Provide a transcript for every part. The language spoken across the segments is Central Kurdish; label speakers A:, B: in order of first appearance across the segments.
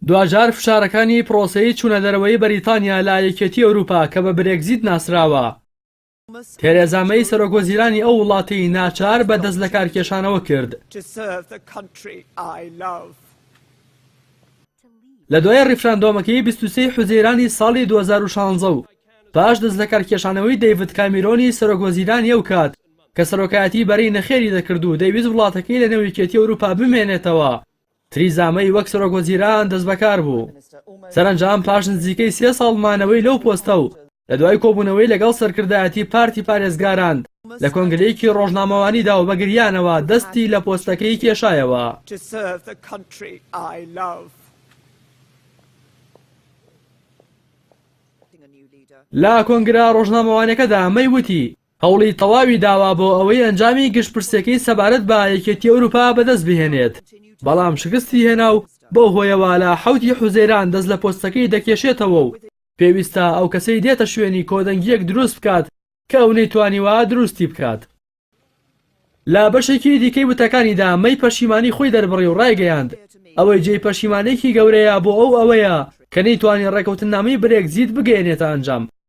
A: دواجار فشارەکانی پرۆسەی چوونەدەرەوەی بەریتانیا لە یەکێتی ئەوروپا کە بە برێگزیت ناسراوە، تێرێزا مەی سەرۆکوەزیرانی ئەو وڵاتەی ناچار بە دەستلەکارکێشانەوە کرد. لە دوای ڕیفراندۆمەکەی بیست و سێ حوزەیرانی ساڵی دوو هەزار و شانزە و پاش دەستلەکارکێشانەوەی دەیڤد کامیرۆنی سەرۆکوەزیرانی ئەو کات، کە سەرۆکایەتی بەرەی نەخێری دەکرد و دەیویست وڵاتەکەی لەنێو یەکێتی ئەوروپا بمێنێتەوە، تریزا مەی وەک سەرۆک وەزیران دەستبەکار بوو. سەرەنجام پاش نزیکەی سێ ساڵ مانەوەی لەو پۆستە و لەدوای کۆبوونەوەی لەگەڵ سەرکردایەتی پارتی پارێزگاران لە کۆنگرەیەکی ڕۆژنامەوانیدا و بە گریانەوە دەستی لە پۆستەکەی کێشایەوە. لە کۆنگرە ڕۆژنامەوانیەکەدا مەی وتی، هەوڵی تەواوی داوە بۆ ئەوەی ئەنجامی گشتپرسیەکەی سەبارەت بە یەکێتی ئەوروپا بەدەست بهێنێت، بەڵام شکستی هێنا و بەو هۆیەوە لە حەوت ی حوزەیران دەست لە پۆستەکەی دەکێشێتەوە و پێویستە ئەو کەسەی دێتە شوێنی کۆدەنگیەک دروست بکات کە ئەو نەیتوانیوە دروستی بکات. لە بەشێکی دیکەی وتەکانیدا مەی پەشیمانی خۆی دەربڕی و ڕایگەیاند ئەوەی جێی پەشیمانێکی گەورەیە بۆ ئەو ئەوەیە کە نەیتوانی ڕێکەوتننامەی برێگزیت بگەیەنێتە ئەنجام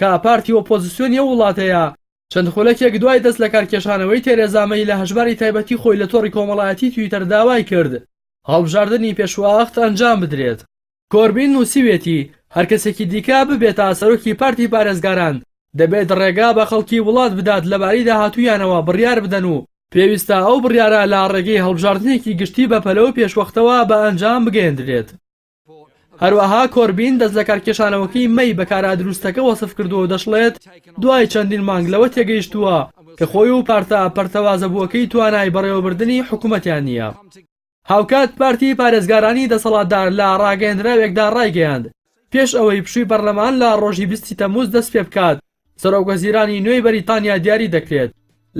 A: کە پارتی ئۆپۆزسیۆنی ئەو وڵاتەیە، چەند خولەکێک دوای دەست لەکارکێشانەوەی تێرێزا مەی لە هەژماری تایبەتی خۆی لە تۆڕی کۆمەڵایەتی تویتەر داوای کرد هەڵبژاردنی پێشوەخت ئەنجام بدرێت. کۆربین نووسیویەتی، هەر کەسێکی دیکە ببێ تا سەرۆکی پارتی پارێزگاران، دەبێت ڕێگا بە خەڵکی وڵات بدات لەبارەی داهاتوویانەوە بڕیار بدەن و پێویستە ئەو بڕیارە لە ڕێگەی هەڵبژاردنێکی گشتی بەپەلە و پێشوەختەوە بە ئەنجام بگەیەندرێت. هەروەها کۆربین دەستلەکارکێشانەوەکەی مەی بە کارا دروستەکە وەسفکردووە و دەشڵێت، دوای چەندین مانگ لەوە تێگەیشتووە کە خۆی و پارتە پەرتەوازەبووەکەی توانای بەڕێوەبردنی حکومەتیان نییە. هاوکات پارتی پارێزگارانی دەسەڵاتدار لە ڕاگەیەندراوێکدا ڕایگەیاند، پێش ئەوەی پشووی پەرلەمان لە ڕۆژی بیست ی تەمووز دەستپێبکات، سەرۆکوەزیرانی نوێی بەریتانیا دیاری دەکرێت.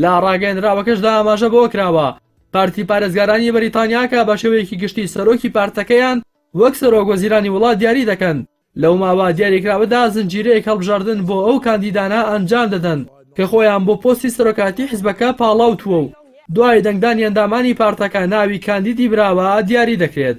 A: لە ڕاگەیەندراوەکەشدا ئاماژە بەوەکراوە، پارتی پارێزگارانی بەریتانیا کە بەشێوەیەکی گشتی سەرۆکی پارتەکەیان وەک سەرۆکوەزیرانی وڵات دیاری دەکەن، لەو ماوە دیاریکراوەدا زنجیرەیەک هەڵبژاردن بۆ ئەو کاندیدانە ئەنجام دەدەن کە خۆیان بۆ پۆستی سەرۆکایەتی حزبەکە پاڵاوتووە و دوای دەنگدانی ئەندامانی پارتەکە ناوی کاندیدی براوە دیاری دەکرێت.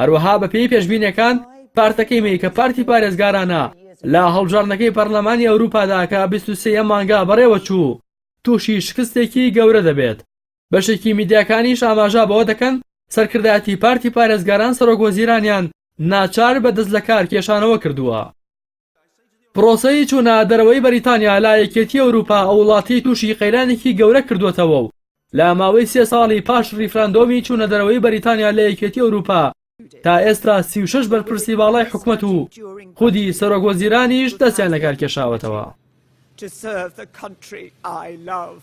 A: هەروەها بەپێی پێشبینیەکان پارتەکەی مەی کە پارتی پارێزگارانە لە هەڵبژاردنەکەی پەرلەمانی ئەوروپادا کە بیست و سێ مانگا بەڕێوەچوو تووشی شکستێکی گەورە دەبێت بەشێکی میدیاکانیش ئاماژە بەوە دەکەن سەرکردایەتی پارتی پارێزگاران سەرۆک وەزیرانیان ناچار بە دەستلەکارکێشانەوە کردووە. پرۆسەی چوونە دەرەوەی بەریتانیا لە یەکێتی ئەوروپا ئەو وڵاتەی تووشی قەیرانێکی گەورە کردووەتەوە و لە ماوەی سێ ساڵی پاش ریفراندۆمی چوونە دەرەوەی بەریتانیا لە یەکێتی ئەوروپا تا ئێستا سی و شەش بەرپرسی باڵای حکومەت و خودی سەرۆک وەزیرانیش دەستیان لەکار کێشاوەتەوە. to serve the country I love.